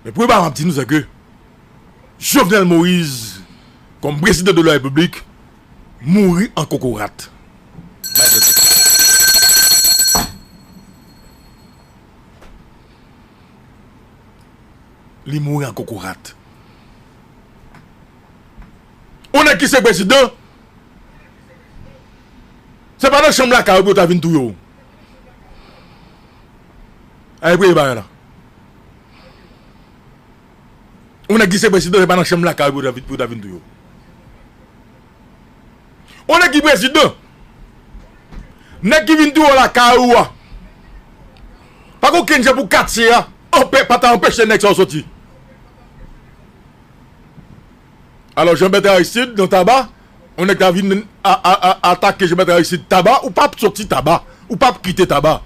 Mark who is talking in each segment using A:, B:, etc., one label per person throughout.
A: Men premye bagay map di nou se ke Jovenel Moise kom prezidan de la repiblik mouri an kokorat. Li mouri an kokorat. On nèg ki se prezidan se pa nan chanm lakay ou pou yo ta vin touye w. Ae premye bagay la. Yon nèg ki se prezidan se pa nan chanm lakay ou pou yo ta vin touye w. Yon nèg ki prezidan, nèg ki vin touye w lakay ou a, pa gen okenn jan pou katye a pa ta anpeche nèg sa yo soti. Alò Jean Bertrand Aristide nan taba yon nèg ta vin atake Jean Bertrand Aristide taba ou pap soti taba ou pap kite taba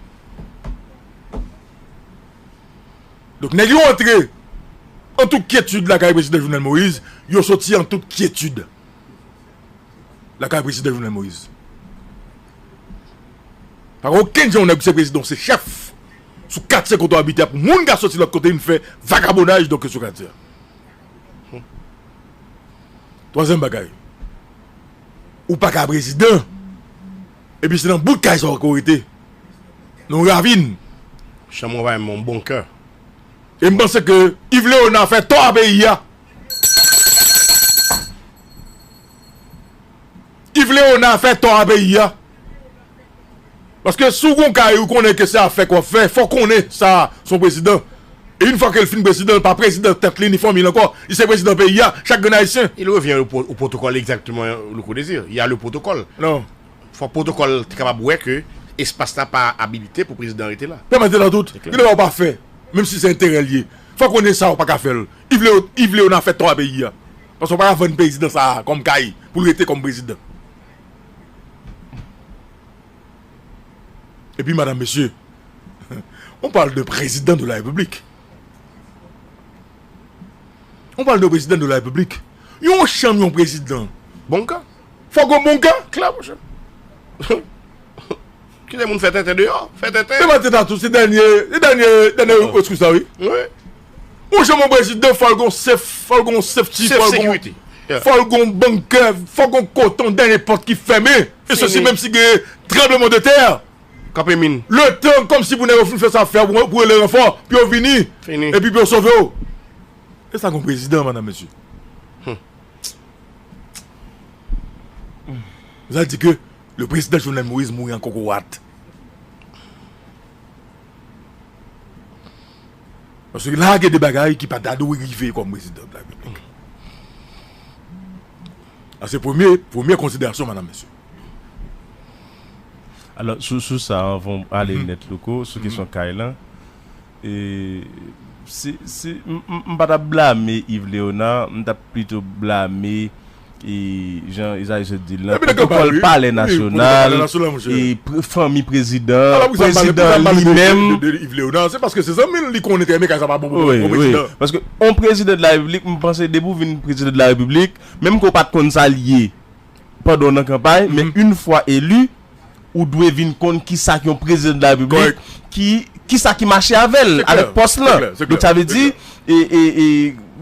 A: donk nèg yo antre an tout kyetid lakay prezidan Jovenel Moïse yo soti an tout kyetid lakay prezidan Jovenel Moïse pa gen okenn jan yon nèg se prezidan ou se chèf sou katye kote w abite a pou moun ka soti lòt kote vin fè vagabonaj donk yo sou katye a. Twazyèm bagay, ou pa ka prezidan epi se nan bout kay sa w ke w rete, nan yon ravin. Chan mwen bay
B: yon bon kè. E m
A: panse ke Yves Léonard fè tò a peyi a. Yves Léonard fè tò a peyi a. Paske si w gen yon kay ou konnen ke se afèk w ap fè, fò w konnen sa a se yon prezidan. E yon fwa ke l fin prezidan, l pa prezidan tèt li ni fanmi l ankò. Li se prezidan peyi a, chak grenn Ayisyen. Il revient au
B: protocole exactement Louko Desir. Il y a le protocole. Non. Fòk
A: protokòl
B: te kapab wè ke espas la pa abilite pou prezidan rete la. Pèmèt etan tout. Gen de bagay
A: ou pa fè, menm si se enterè l ye. Fò w konnen sa a ou pa ka fè l. Yves Léonard fè tò a peyi a. Paske ou pa ka vann prezidan sa a kòm kay pou l rete kòm prezidan. E pi madan mesye, on parle d'un président de la République. On parle d'un président de la République. Yon chanm yon prezidan, bon ka.
B: Fòk gen yon bon ka,
A: klè monchè.
B: Kite moun fè tenten deyò, fè tenten. Depi Maten Tatou se dènye,
A: se dènye, dènye reskou sa wi. Wi.
B: Ou janm
A: yon prezidan fòl gon sef fòl gon sefti fòl gon
B: fòl gon
A: bankè fòl gon koton dènye pòt ki fèmen e sosi menm si gen tranbleman de tè kape min
B: letan kòmsi pou
A: nèg yo fin fè sa fè pou rele ranfò pou yo vini epi pou yo sove
B: w
A: e sa gon prezidan madam mesye humm zan di ke le prezidan Jovenel Moïse mouri an kokorat. Paske la a gen de bagay ki pa ta dwe rive kòm prezidan de la repiblik. Sa se premye, premye konsiderasyon madam mesye.
C: Alò sou sou sa anvan ou ale nèt Louko, sou kesyon kay lan, e se se m m pa ta blame Yves Léonard, m ta plito blame e jan Esaïe sot di l lan, pwotokòl palè nasyonal, e fanmi prezidan, prezidan li menm. Se paske
A: se zanmi l, li konnen trè byen kay sa pa bon pou prezidan. Wi, paske
C: yon prezidan de la repiblik, m panse depi w vin prezidan de la repiblik, menm ke w pa t konn sa l ye pandan w nan kanpay, men yon fwa eli, ou dwe vin konn kisa k yon prezidan de la repiblik ki kisa ki mache avè l avèk pòs lan donk sa vle di e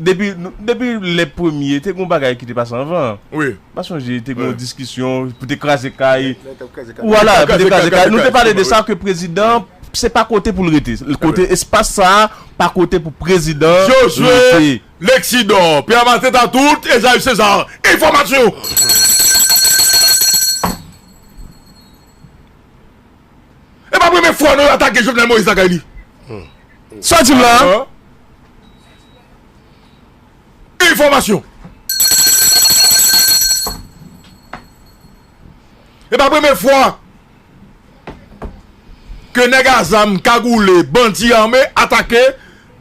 C: depi depi lè premye te gen yon bagay ki te pase anvan an wi pa sonje
A: te gen yon
C: diskisyon pou te kraze kay lè t ap kraze kay wala pou te kraze kay nou te pale de sa ke prezidan se pa kote pou l rete kote espas sa pa kote pou prezidan rete.
A: Lexi dor pe a maten ta tout Esaü Cesar enfomasyon. E pa premye fwa non yo atake Jovenel Moïse lakay li. Sa
C: di la.
A: Enfomasyon. E pa premye fwa. Ke neg a zam kagoule bandi ame atake.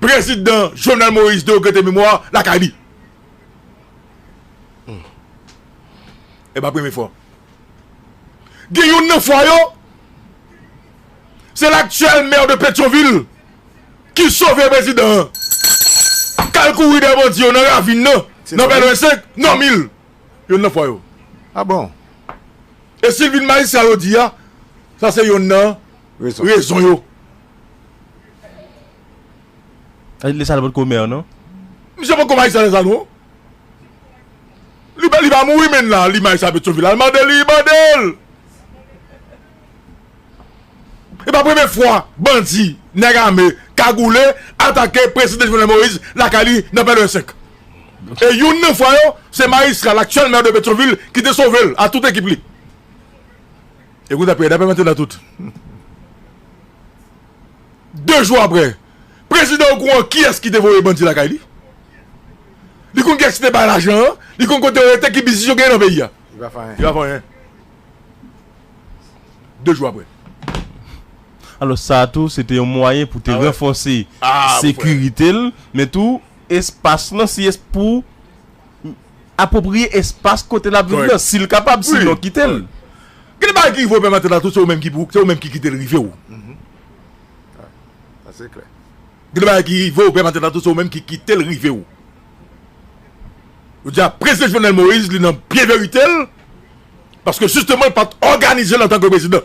A: Prezidan Jovenel Moïse de regrete memwa lakay li. E pa premye fwa. Gen youn nan fwa yo, se laktyèl mè de Petyonvil ki sove prezidan an. K al kouri dèyè bandi yo nan ravin nan, nan Pèlwen 5, Nòmil. Youn nan fwa yo. A bon?
D: E
A: si l vin majistra yo di a, sa se youn nan rezon yo.
C: Lisa pat ko mère non. Misye poko may
A: sa lesa non. Li pa mouri menn la li may sa petyonvil al mande li mandel. E pa premye fwa bandi neg ame kagoule atake prezidan jovenel moïse lakay li nan pèlen 5. E youn nan fwa yo se majistra laktyel mère de petyonvil ki te sovel a tout ekip li. E kou dapè dapè matelot tout. De jou aprè. Prezidan ou kouran kiyès ki te voye bandi lakay li. Li konn kiyès ki te bay lajan an. Li konn kote yo rete ki biznis yo gen nan peyi a. Li pa fè anyen. Li pa fè anyen. De jou aprè.
C: Alò sa tou se te yon mwayen pou te ranfòse sekirite
A: l
C: men tou espas lan si es pou. apwopriye espas kote l ap viv nan si l kapab, sinon
A: kite
C: l. Gen
A: de bagay ki rive w menm antandan tou se ou menm ki pou, se ou menm ki kite l rive w.
D: Sa se klè. Gen de bagay ki
A: rive w menm antandan tou se ou menm ki kite l rive w. Yo di a Prezidan Jovenel Moïse li nan pye verite l paske jisteman l pa t òganize l antanke Prezidan.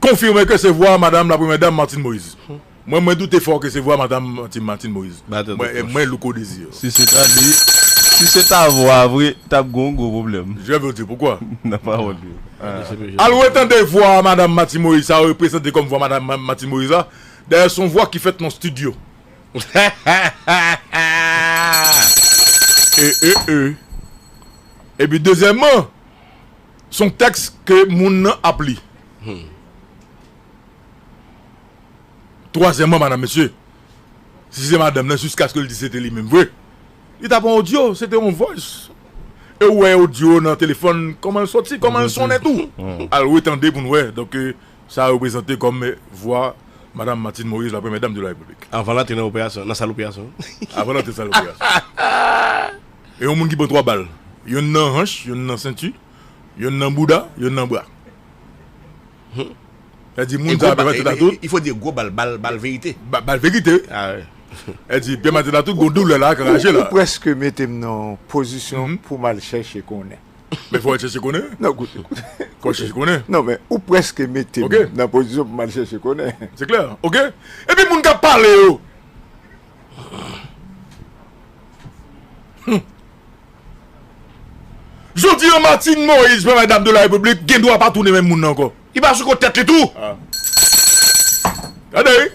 A: konfime ke se vwa madam la premyè dam Martine Moise. Mwen mwen doute fò ke se vwa madam Martine Moise. Mwen Louko
B: Desir.
A: Si se ta li,
C: si se ta vwa a vre, tap gen yon gwo pwoblèm. Je veux dire pourquoi?
A: Nan pawòl li yo.
C: Al
A: retande vwa madam Martine Moise sa yo prezante kòm vwa madam Martine Moise la. Dayè son vwa ki fèt nan studio. Ehehehe. Epi dezyèmman. Se yon tèks ke moun nan ap li. Twazyèman, madan mesye, si se madanm nan, jiskaske l di se te li menm vre, li ta pran odyo, se te yon voice. E ou wè odyo nan telefòn, kòman l soti, kòman l sonnen tou. Al retande pou nou wè, donk sa reprezante kòm vwa madan Martine Moïse, la premyè dam de la Repiblik. Avan l antre nan operasyon,
B: nan sal operasyon. Avan l antre nan sal
A: operasyon. E yon moun ki pran 3 bal, yonn nan hanch, yonn nan senti, yonn nan bouda, yonn nan bra. Hum. Sa di moun sa ap pèmèt tèt a tout. Il faut dire
B: gwo bal, bal, bal verite. Bal verite wi.
A: Ah
B: oui. Sa di pèmèt
A: tèt a tout gon doulè la ak raje la. Ou prèske mete m nan
D: yon pozisyon pou m al chèche konnen. Men fò w al chèche
A: konnen. Non koute, koute.
D: Fò w al chèche konnen.
A: Non men ou prèske
D: mete m nan pozisyon pou m
A: al chèche
D: konnen. Se klè. Ok.
A: Epi moun k ap pale yo. Jodi an Martine Moise premyè dam de la repiblik gen dwa pa tounen menm moun nan ankò. Li pa sou kont tèt li tou? Gade wi.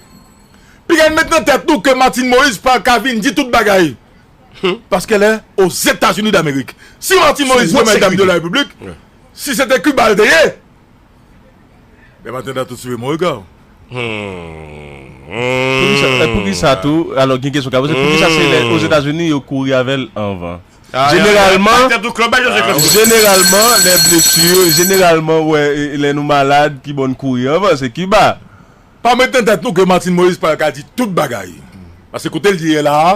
A: Piga n met nan tèt nou ke Martine Moise pa ka vin di tout bagay. Paske lè o Zetazini damerik. Si Martine Moise premyè dam de la repiblik, si se te Cuba l te ye. Bèm antendan tout swive m regaw.
C: Poukisa tou, alò gen kesyon ka poze, poukisa se lè Ozetazini yo kouri avè l anvan? Jeneralman, jeneralman lè blesu, jeneralman wè lè nou malad kibò n kouri anvan, se Kiba. Pa met nan tèt
A: nou ke Martine Moïse pa ka di tout bagay. Pase kote l ye la a.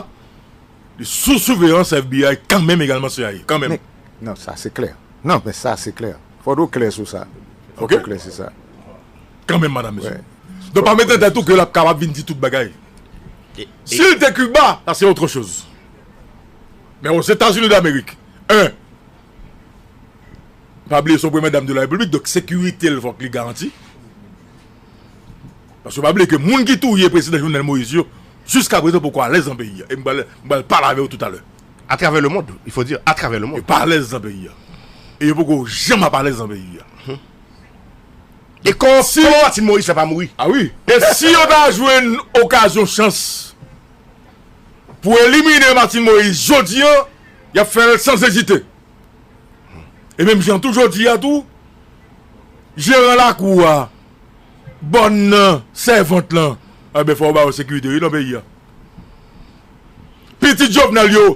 A: Li sou souveyans FBI kanmenm egalman cia kanmenm. Nan sa se
D: klè. Nan men sa se klè. Fòk ou klè sou sa. Fòk ou klè sou sa. Kanmenm madam
A: mesye. Donk pa met nan
D: tèt
A: ou ke lap kapab vin di tout bagay. Si li te Cuba sa se otre choz. Men ozetazini damerik 1 pa bliye son premyè dam de la repiblik donk sekirite l fòk li garanti. Paske pa bliye ke moun ki touye Prezidan Jovenel Moïse yo jiska prezan poko alèz nan peyi a. E m pral m pral pale avè yo toutalè. A travè le mond,
B: il faut dire, a travè le mond. Yo pa alèz nan peyi
A: a. E yo poko janm ap alèz nan peyi a.
B: E kòman kòman Martine Moïse fè pa mouri? A wi. E si
A: yo ta jwenn okazyon chans pou elimine Martine Moïse jodi an, y ap fè l sans ezite. E menm jan tou jodi a tou, jeran lakou a Bòn nan sèvant lan. Anben fò yo ba yo sekirite wi nan peyi a. Pitit Jovenel yo,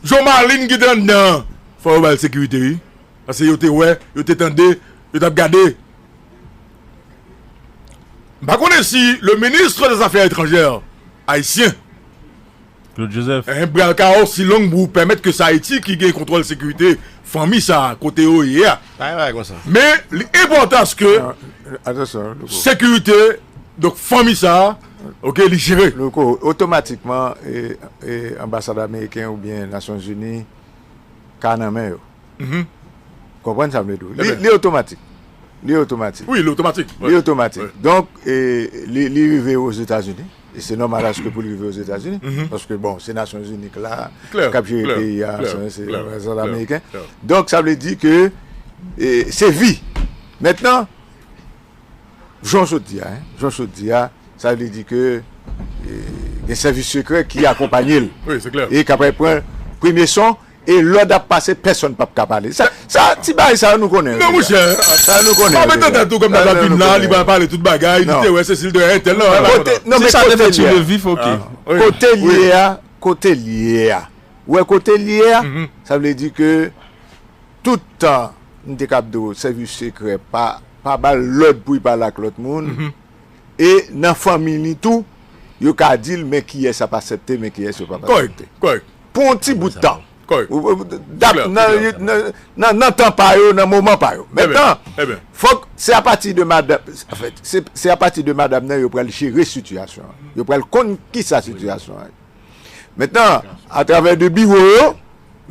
A: Jo Marlin ki te anndan an, fò yo ba l sekirite wi. Pase yo te wè, yo te tande, yo t ap gade. M pa konnen si le ministre des affaires étrangères ayisyen
C: Claude Joseph. Enh bral kawo si
A: long bou pèmèt ke sa Ayiti ki gen kontwòl sekirite fanmi sa kote yo ye a. Pa gen bagay konsa. Men
B: li enpòtan
A: aske
D: sekirite
A: donk fanmi sa ok li jere. Louko, otomatikman
D: anbasad ameriken oubyen nasyon zini ka nan men yo. Ou konprann sa m vle di w. Li otomatik. Li otomatik. Wi li otomatik.
A: Li otomatik. Donk
D: li rive yo ozetazini. E se nòmal aske pou l rive Ozetazini, paske bon, se Nasyonzini k la, k ap jere peyi a, se reprezantan ameriken. Donk sa vle di ke se vi. Mentnan, jan w sot di a, jan w sot di a, sa vle di ke gen sèvis sekrè ki akonpanye l e k apral
A: pran
D: premye son. E lòd ap pase pèsòn pap ka pale. Sa sa ti bagay sa yo nou konnen yo deja. Non monchè. Sa yo
A: nou konnen yo deja. Sa yo
D: mete tèt tou kòm nan lap
A: vin la li pral pale tout bagay li te wè sesi li te wè entèl nan. Kote non men kote
D: li ye
C: a. Kote li ye a
D: kote li ye a. Ou wè kote li ye a sa vle di ke tout tan m te kab di w sèvis sekrè pa pa ba l lòd pou li pale ak lòt moun e nan fanmi li tou yo ka di l men kiyès ap asèpte men kiyès yo pap asèpte. Kòrèk kòrèk. pou yon ti
A: bout tan.
D: Nan tan pa yo, nan moman pa yo. Mèt nan, fòk se apati de madam, se apati de madam nan yo pral jere sitiyasyon. Yo pral konn ki sa sitiyasyon. Mèt nan, a travè de biwo yo,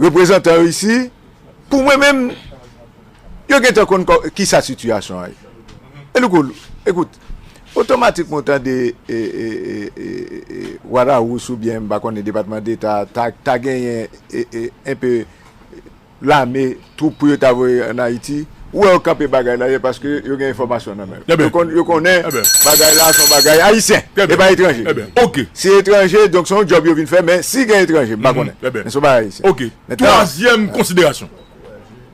D: reprezantan yo isi, pou mwen menm. Yo gentan konn kisa sitiyasyon an ye. E louko, ekout, otomatikman ou tande Warawous oubyen m pa konnen Depatman Deta ta genyen enpe lame, twoup pou yo ta voye an Ayiti, ou wè yo kanpe bagay la ye paske yo gen enfòmasyon nan men yo. Yo konnen bagay la se yon bagay Ayisyen, e pa etranje. Si
A: etranje, donk
D: se yon djòb yo vin fè men si gen etranje, m pa konnen. Men se yon bagay Ayisyen. Ok. Twazyèm
A: konsiderasyon.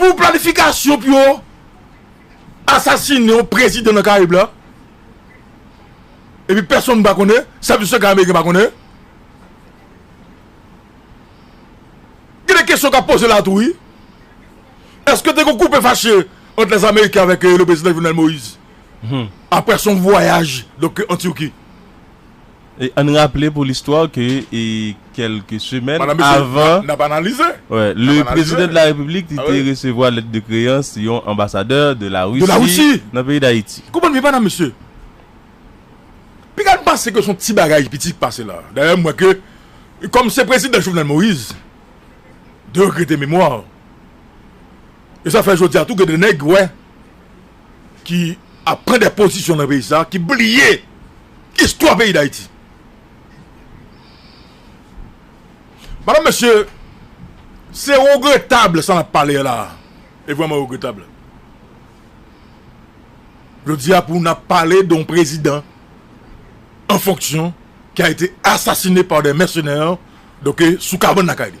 A: Pou planifikasyon pou yo asasine yon prezidan nan Karayib la, epi pèsonn pa konnen, sèvis sekrè ameriken pa konnen. Gen de kesyon k ap poze la tou wi. Eske te gen koupe fache ant lèzameriken avèk le prezidan Jovenel Moïse apre son vwayaj an Turki?
C: Ann raple pou listwa ke kèlke semèn avan
A: le Prezidan
C: de la Repiblik li te resevwa lèt de kreyans yon anbasadè de la Risi nan peyi Dayiti. Konprann byen madam mesye.
A: Piga nou panse ke son ti bagay piti ki pase la. Dayè m wè ke kòm se Prezidan Jovenel Moïse de regrete memwa. E sa fè jodi a tou gen de nèg wè. ki ap pran de pozisyon nan peyi sa ki bliye istwa peyi dayiti madan mesye se regretab sa nap pale la e vreman regretab jodi a pou nap pale don prezidan an fonksyon ki a ete asasine pa de mèsenè doke sou kabann lakay li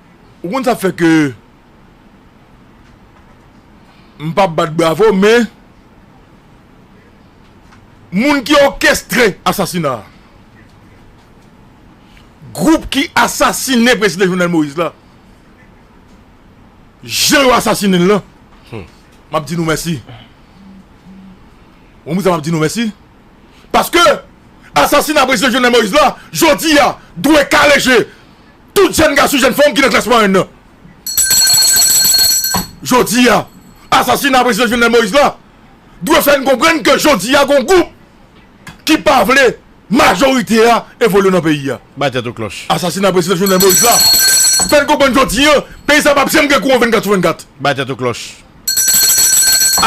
A: Ou konn sa fè ke m pa bat bravo men moun ki òkestre asasina a, gwoup ki asasine prezidan Jovenel Moïse la, jan yo asasine l lan, m ap di nou mèsi. Ou konn poukisa m ap di nou mèsi? Paske asasina prezidan Jovenel Moïse la, jodi a, dwe kale je Tout jèn gason jèn fanm ki nan klas mwayèn nan. Jodi a, asasina Prezidan Jovenel Moïse la dwe fè n konprann ke jodi a gon gwoup ki pa vle majorite a evolye nan peyi a. Bay tèt ou klòch.
B: Asasina Prezidan Jovenel Moïse
A: la fè n konprann jodi an peyi sa pap janm gen kouran 24 sou 24. Bay tèt ou klòch.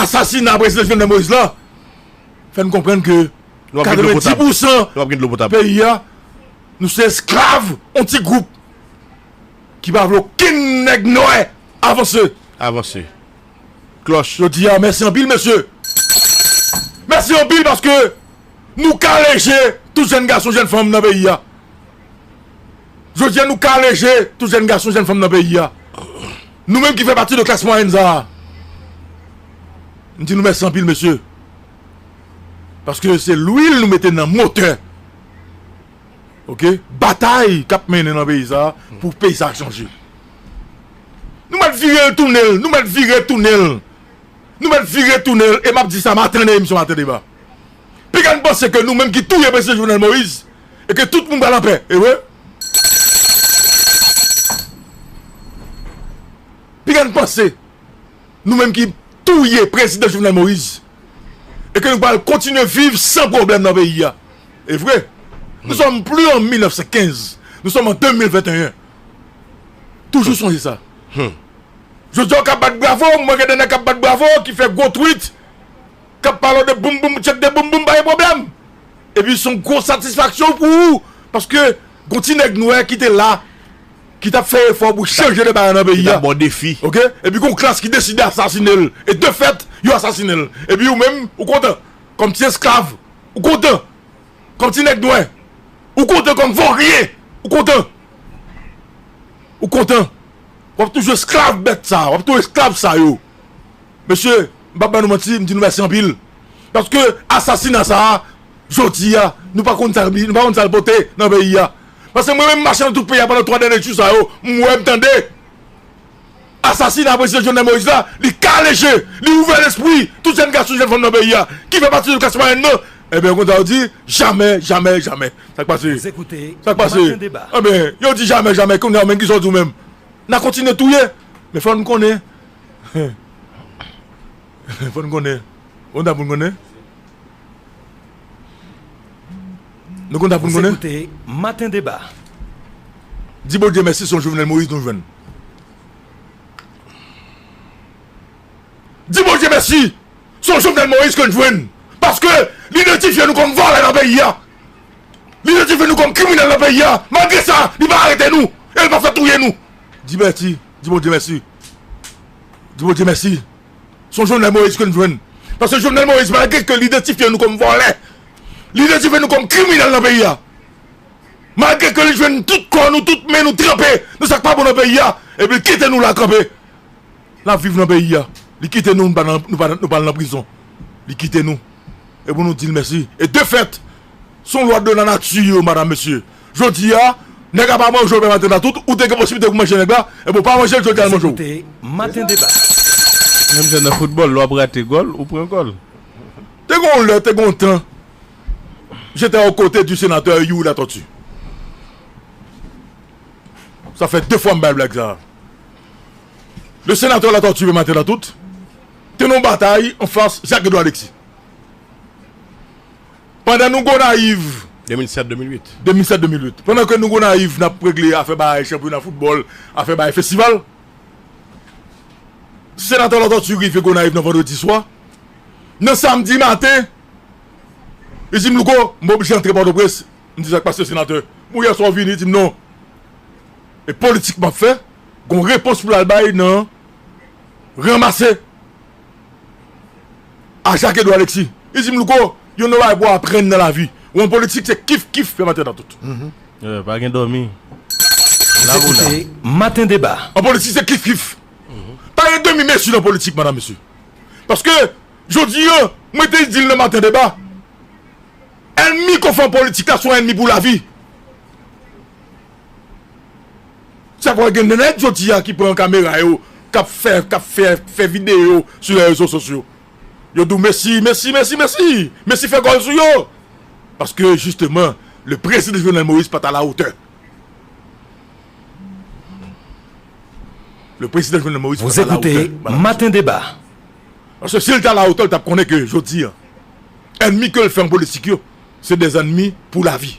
B: Asasina
A: Prezidan Jovenel Moïse la fè n konprann ke 90 pousan peyi a. Nou se esklav yon ti gwoup ki pa vle okenn nèg nwè avanse. Avanse.
B: Klòch. Jodi a mèsi
A: anpil mesye. Mèsi anpil paske nou kale je tout jèn gason jèn fanm nan peyi a. Jodi a nou kale je tout jèn gason jèn fanm nan peyi a. Nou menm ki fè pati de klas mwayèn sa a. M di nou mèsi anpil mesye. Paske se lwil nou mete nan motè. ok batay kap mennen nan peyi sa pou peyi sa chanje nou mèt vire l tounen l nou mèt vire tounen l nou mèt vire tounen l e map di sa maten nan emisyon maten deba piga n panse ke nou menm ki touye prezidan jovenel moïse e ke tout moun pral anpè ewe piga n panse Nou menm ki touye prezidan Jovenel Moïse e ke nou pral kontinye viv san pwoblèm nan peyi a. E vre, nou sòm pli an 1915, nou sòm an 2021. Toujou sonje sa. Jodi a ou ka bat bravo, mwen gen de nèg k ap bat bravo, ki fè gwo twit, k ap pale w de boum boum, tchèk de boum boum, pa gen pwoblèm. Epi son gwo satisfaksyon pou ou, paske gon ti nèg nwè ki te la. ki t ap fè efò pou chanje de bagay nan peyi a, ok, epi
B: gen yon klas
A: ki deside asasine l, e de fèt, yo asasine l, epi ou menm, ou kontan, kòm ti esklav, ou kontan, kòm ti nèg nwè, ou kontan, kòm voryen, ou kontan, ou kontan, w ap toujou esklav bèt sa, w ap toujou esklav sa yo. Mesye, m pa p ban nou manti, m di nou mèsi anpil, paske asasina sa a, jodi a, nou pa konn sa li, nou pa konn sa l pote nan peyi a. Paske mwen menm m mache nan tout peyi a pandan 3 dènye jou sa yo, m wè, m tande. Asasina Prezidan Jovenel Moïse la, li kale je, li ouvè lespri tout jèn gason, jèn fanm nan peyi a ki fè pati de klas mwayèn nan. Enben, konsa yo di, jamè, jamè, jamè. Sa k pase? Sa k pase? Enben, yo di jamè, jamè, kounye a ou menm ki sa w di ou menm? N a kontinye touye? Men fò n konnen, fò n konnen, konsa pou n konnen. Nou kontan pou n konnen. Ou se koute maten deba. Di Bondye mèsi son Jovenel Moïse nou jwenn. Di Bondye mèsi son Jovenel Moïse ke n jwenn. Paske li idantifye nou kòm vòlè nan peyi a. Li idantifye nou kòm kriminèl nan peyi a. Malgre sa li pa arete nou e li pa fè touye nou. Di mèsi. Di Bondye mèsi. Di Bondye mèsi. son Jovenel Moïse ke nou jwenn. Paske Jovenel Moïse malgre ke li idantifye nou kòm vòlè, li idantifye nou kòm kriminèl nan peyi a, malgre ke li jwenn tout kò nou, tout men nou tranpe nan sa k pa bon nan peyi a, epi li kite nou la kanpe. N ap viv nan peyi a. Li kite nou, nou pa al nan prizon. Li kite nou. E pou nou di l mèsi. E de fèt, son lwa de lanati yo, madam, mesye, Jodi a nèg la pa manjew menm atanda tout ou te gen posiblite pou manje nèg la ebyen ou pa manjel jodi a li manjew.
E: Menm
C: jan nan foutbòl lè wap rate gòl ou pran gòl. Te gen yon lè,
A: te gen yon tan, j'étais aux côtés du sénateur Youri Latortue. Sa fè 2 fwa m bay blag sa. Le sénateur Latortue menm atanda tout te nan yon batay anfas Jacques Edouard Alexis. Pandan nou Gonayiv. 2007, 2008. 2007, 2008. Pandan ke nou Gonayiv n ap regle afè bay chanpyona foutbòl, afè bay festival, Senatè Latortue rive Gonayiv nan vandredi swa. Nan samdi maten, li di m, Louko, m pa oblije antre Pòtoprens. M di, Sa k pase, Senatè? Bon, yè swa ou vini? Li di m, Non. E politik m ap fè, gen yon repons pou l al bay nan ranmase A Jacques Edouard Alexis, li di m, Louko, yon nò bagay pou w aprann nan lavi ou an politik se kif kif fè maten nan tout. Ye, pa gen
C: dòmi. La voula.
E: Koute Maten Deba. An politik se kif kif.
A: Pa gen demi mezi nan politik madam mesye. Paske jodi an, mwen te di l nan Maten Deba, ènmi konfan politik la se yon ènmi pou lavi. Sa pral gen de nèg jodi a ki pran kamera yo kap fè kap fè fè video sou lè rezo sosyo yo dou Messi Messi Messi Messi Messi fè gòl sou yo paske jisteman le prezidan Jovenel Moïse pat a la otè le prezidan Jovenel Moïse pat a la otè maten deba
E: paske
A: sil ta la otè li tap konnen ke jodi a ènmi kel fè an politik yo se de zènmi pou lavi.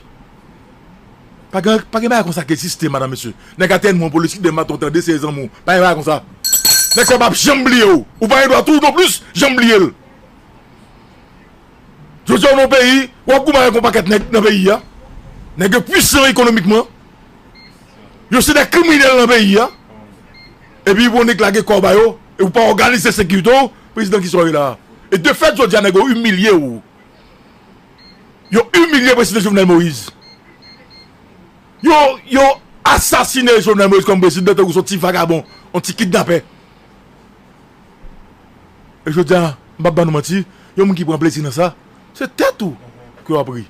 A: Pagen pagen bagay konsa ki egziste madam mesye nèg a tèlman poli si deman ton tande se zanmiw pagen bagay konsa nèg sa pap janm bliyew ou pagen dwa tou non plis janm bliyel jodia ou nan yon peyi wap goumen avèk yon pakèt nèg nan peyi a nèg yo pwisan ekonomikman yo se de kriminèl nan peyi a epi bon nèg lage kòw bayo epi ou pa òganize sekiritew prezidan kisa ou ye la e defèt jodia nèg yo imilyew. Yo imilye prezidan Jovenel Moïse. Yo yo asasine Jovenel Moïse kòm prezidan tankou son ti vagabon, on ti kidnapè. E jodi a, m pap ban nou manti, yon moun ki pran plezi nan sa, se tèt ou ke w ap ri.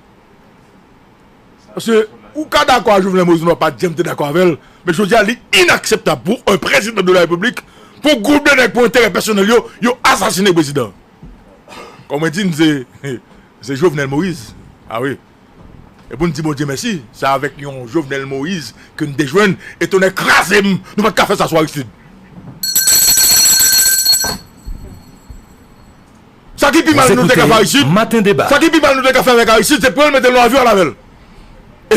A: Paske ou ka dakò a Jovenel Moïse, m pa janm te dakò avè l, men jodi a li inakseptab pou on prezidan de la repiblik, pou gwoup de nèg pou enterè pèsonèl yo, yo asasine prezidan. Kon mwen di n se se Jovenel Moise a wi e pou n di Bondye mèsi se avèk yon Jovenel Moise ke n te jwenn e tonnè kraze m nou pa t ka fè sa sou Aristide. Sa ki pi mal nou te ka fè Aristide sa ki pi mal
E: nou te ka fè avèk
A: Aristide se pran l mete l nan avyon al avè l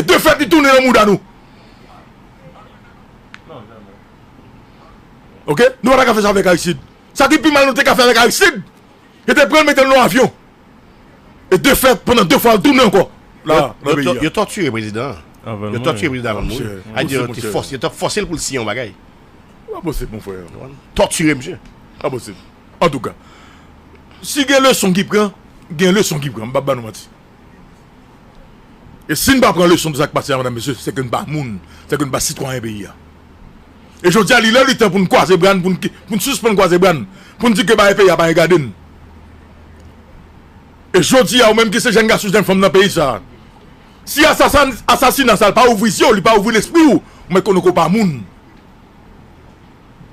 A: e de fèt li tounen nan mouda nou ok nou pa ta ka fè sa avèk Aristide. Sa ki pi mal nou te ka fè avèk Aristid, yo te pran l mete l nan yon avyon. E de fèt, pandan de fwa l tounen ankò la nan peyi a. Yo tòtire
B: prezidan an. Yo tòtire prezidan an avan l mouri. Sa di yo te fòse, yo te fòse l pou l siyen yon bagay. Sa pa posib
A: mon frè. Tòtire misye.
B: Sa pa posib.
A: Antouka, si gen leson ki pran, gen leson ki pran. M pap ba nou manti. E si n pa pran leson de sa k pase a medam mesye, se ke n pa moun, se ke n pa sitwayen peyi a. E jodi a li lè li tan pou n kwaze bra n, pou n sispann kwaze bra n, pou n di ke bagay peyi a pa regade n. E jodi a ou menm ki se jenn gason, jenn fanm nan peyi sa a, si asasina sa pa ouvri zye w, li pa ouvri lespri w, ou mèt konnen ke w pa moun.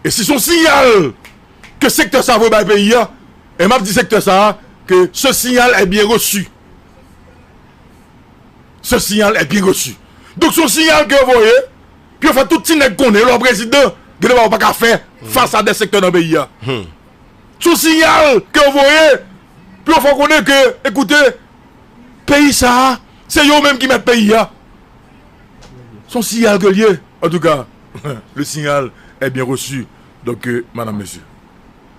A: E si son siyal ke sektè sa vwe bay peyi a, E map di sektè sa a ke ce signal est bien reçu. Ce signal est bien reçu. Donk se yon signal ke yo voye pou yo fè tout ti nèg konnen lè w prezidan gen de bagay ou pa ka fè fas a de sektè nan peyi a. Se yon signal ke yo voye pou yo fè w konnen ke ekoute peyi sa a se yo menm ki mèt peyi a. Se yon signal ke l ye. Antouka le signal est bien reçu donk madam mesye.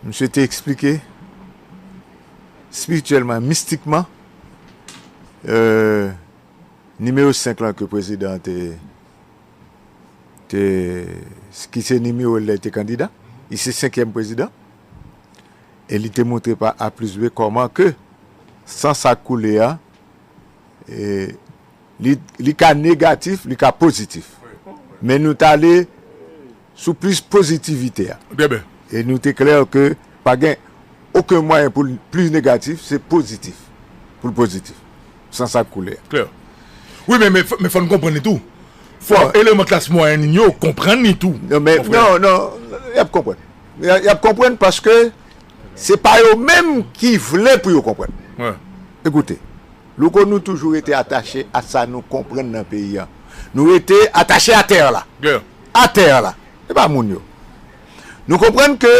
A: Misye te
D: eksplike, espirityèlman e mistikman, nimewo 5 lan ke prezidan an te, te, ki se nimewo l lè l te kandida, li se senkyèm prezidan, e li te montre pa A plis B kòman ke san sa k koule a, e. Li ka negatif, li ka pozitif. Men nou t ale sou plis pozitivite a. E
A: nou te klè
D: ke pa gen oken mwayen pou l plis negatif, se pozitif pou l pozitif. San sa k koule a. Klè.
A: Wi men, men fò n konprann li tou. Fò eleman klas mwayèn n yo konprann li tou. Non men, non, non,
D: y ap konprann. Y ap konprann paske se pa yo menm ki vle pou yo konprann. Ekoute. Louko nou toujou rete atache a sa nou konprann nan peyi an nou rete atache a terre la a terre
A: la
D: e pa moun yo nou konprann ke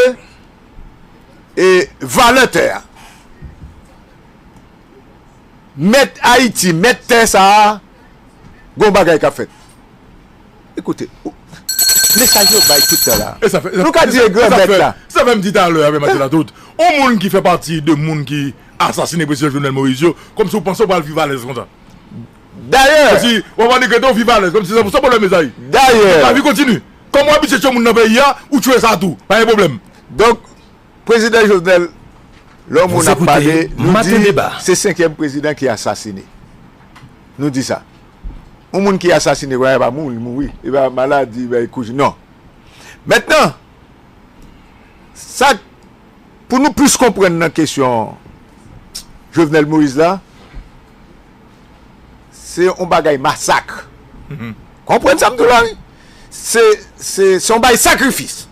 D: e valè tè a mèt ayiti mèt tè sa a gon bagay kap fèt. E koute ou. Mesaj yo bay tout tan la. E sa fè. Nou ka di e gran
A: mèt la.
D: E sa fè m di talè a,
A: Mathieu Latoute, on moun ki fè pati de moun ki asasine Prezidan Jovenel Moïse yo, kòmsi ou panse ou pral viv alèz konsa? Dayè.
D: Kòmsi ou ap annik
A: rete ou viv alèz kòmsi san pwoblèm mezanmi? Dayè. Donk lavi kontinye. Kòm ou abitye tchwe moun nan peyi a, ou tchwe sa
D: tou.
A: Pa gen pwoblèm. Donk, Prezidan Jovenel, lè on
D: moun ap pale, nou di se senkyèm prezidan ki asasine. Nou di sa. yon moun ki asasine konnya e pa moun li mouri e pa maladi e pa ekozi non mentnan sak pou nou plis konprann nan kesyon Jovenel Moïse la se yon bagay masak konprann sa m di w la wi se yon bagay sakrifis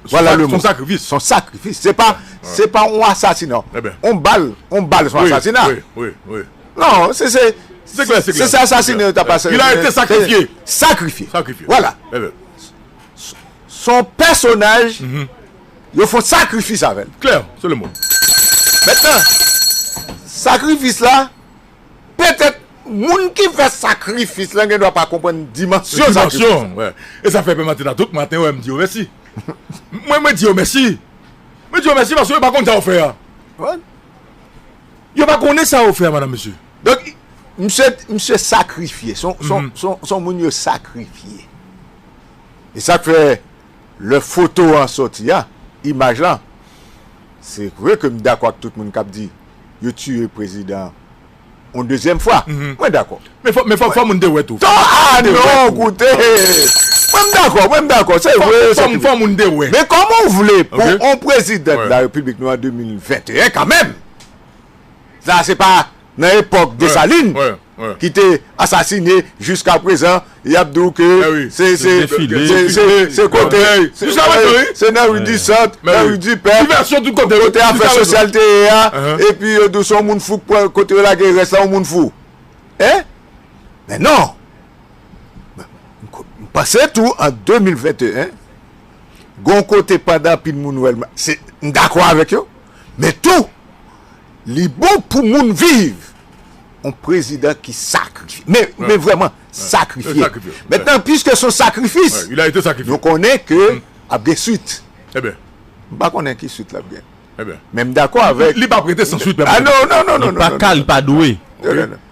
D: Voilà le mot. Son
A: sacrifice. Se
D: pa, se pa yon asasina. Yon bal,
A: yon bal
D: son asasina. Wi, wi, wi.
A: Non, se
D: se, se klè, se klè. Se
A: se asasine yo
D: ta pa se. Il a ete sakrifye.
A: Sakrifye. Sakrifye.
D: Voilà.
A: Ehe.
D: Son pèsonaj, yo fon sakrifis avèl. Klè, se le mot.
A: Mètnan,
D: sakrifis la. Petèt, moun ki fè sakrifis lan gendwa pa konprann dimansyon sakrifis lan. Dimansyon, wè.
A: E sa fè Pè Matina tout maten wè m di yo mèsi. Mwen, mwen di yo mèsi. Mwen di yo mèsi paske yo pa konn sa yo fè a. Wè. Yo pa konnen sa yo fè a, madanm, mesye. Donk,
D: misye, misye sakrifye. S on, s on, s on, s on moun yo sakrifye. E sa k fè, lè foto an soti a, imaj lan, se vre ke m dakò ak tout moun k ap di. yo tiye prezidan on dezyèm fwa mwen dakò men fò moun
A: te wè tou
D: fò moun te wè
A: men kòman ou vle pou
D: on prezidan de la repiblik nou an 2021 kanmèm sa se pa nan epòk Dessalines. ki te asasine jiska prezan yap di w ke se se se kote se nan ri di sant nan ri di pè kote afè sosyal te ye a epi yo di w se yon moun fou kote yo lage rès la yon moun fou e men non m panse tou an 2021 gon kote pandan anpil moun wè l m dakò avèk yo men tou Li bon pou moun viv. On prezidan ki sakrifye. Men vreman sakrifye. Mentnan piske son sakrifis. Nou
A: konnen ke
D: ap gen swit.
A: M pa konnen ki
D: swit lap gen. Men m dako
A: avek. Li
D: pa prete san swit
A: menm.
D: A
A: non non non non. Li pa
D: ka li pa dwe.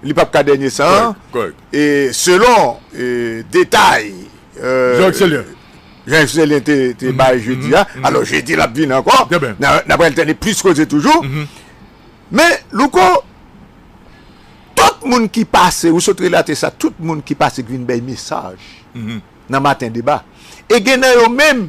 D: li pap ka dènye san an, e selon detay Jean-Yves Célien te bay jodi a, alò jedi lap vini ankò, nan pral tande plis koze toujou, men Louko, tout moun ki pase, ou sot relate sa, tout moun ki pase ki vin bay mesaj nan maten deba, e gen nan yo menm,